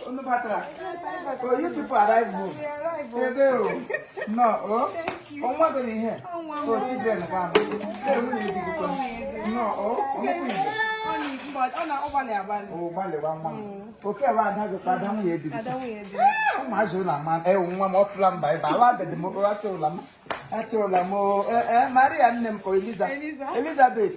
Unu batara. So you people arrive home. Ebe o. Nnọọ. Ọnwa gị n'ihe. So children ga ama. Ee, nwunye di gị kwa. Nnọọ. Ọmụkwụ Igbo. O gbalị gba nwa. Oke ebe ada gị kwa ada nwunye di gị. Ụmụazị ụlọ ama. Ee, nwa m ọfụla mba ebe. Ala agadi m achị ụla m. Achị ụla m. Ee, Maria nne m ka Eliza. Elizabeth.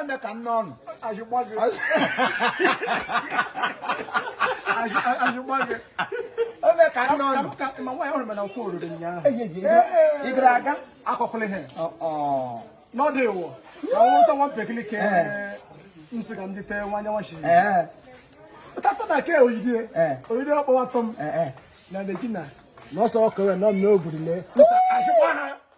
ome ka nne ọnụ azụgba gị ome ka nne ọnụ ma nwaanyị ọrụ mana nkwụ oriri ụnyaahụ ị gara aga akọkụlị ha n'ọdụ ịwụ na ọnwụ ụtọ nwa mpekili ka nsị ka ndị tee nwanya nwachi ụtụtụ na ke oyidie oyidie ọkpọwa tọm na na ọsọ ọkọwe nọ n'obodo lee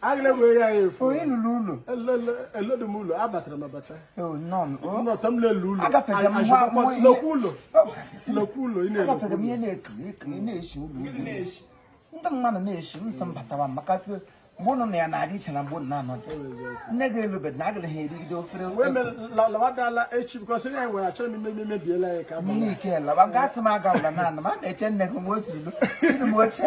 agịla were ya efu onye lụrụ ụlọ elodị m ụlọ abatara m abata nnọta m lele ụlọ lokwu ụlọ lokwu ụlọ ị na-agafere m ihe na-ekiri ekiri na-esi ụlọ ndị mmadụ na-esi nsọ m batara m maka sị mgbe ụnụ na ya na-adị iche na mgbe ụnụ na-anọdụ nne gị elu bed na agịla ha erigide ofere lawadala echi because ya nwere achọrọ m ime mebiela ya ka nne ike lawa gasị m agawala na ana m a na-eche nne gị nwe otu ilu ilu m oche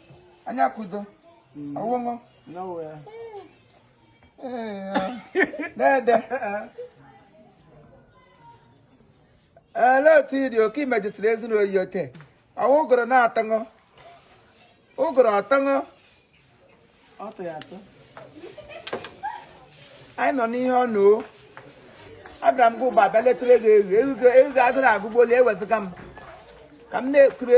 onye akụ door mm. ọ wụ mụ dede olee otu ị dị oke i mejisiri ezinụlọ oyi ote ọ wụ ụgụrụ na-atụ nụ ụgụrụ ọ tụ nụ anyị nọ n'ihe ọ nnọọ abịara m gị ụba abịa letara ego ewu ewu ga agụrụ agụgbuole ewezụga m ka m na-ekure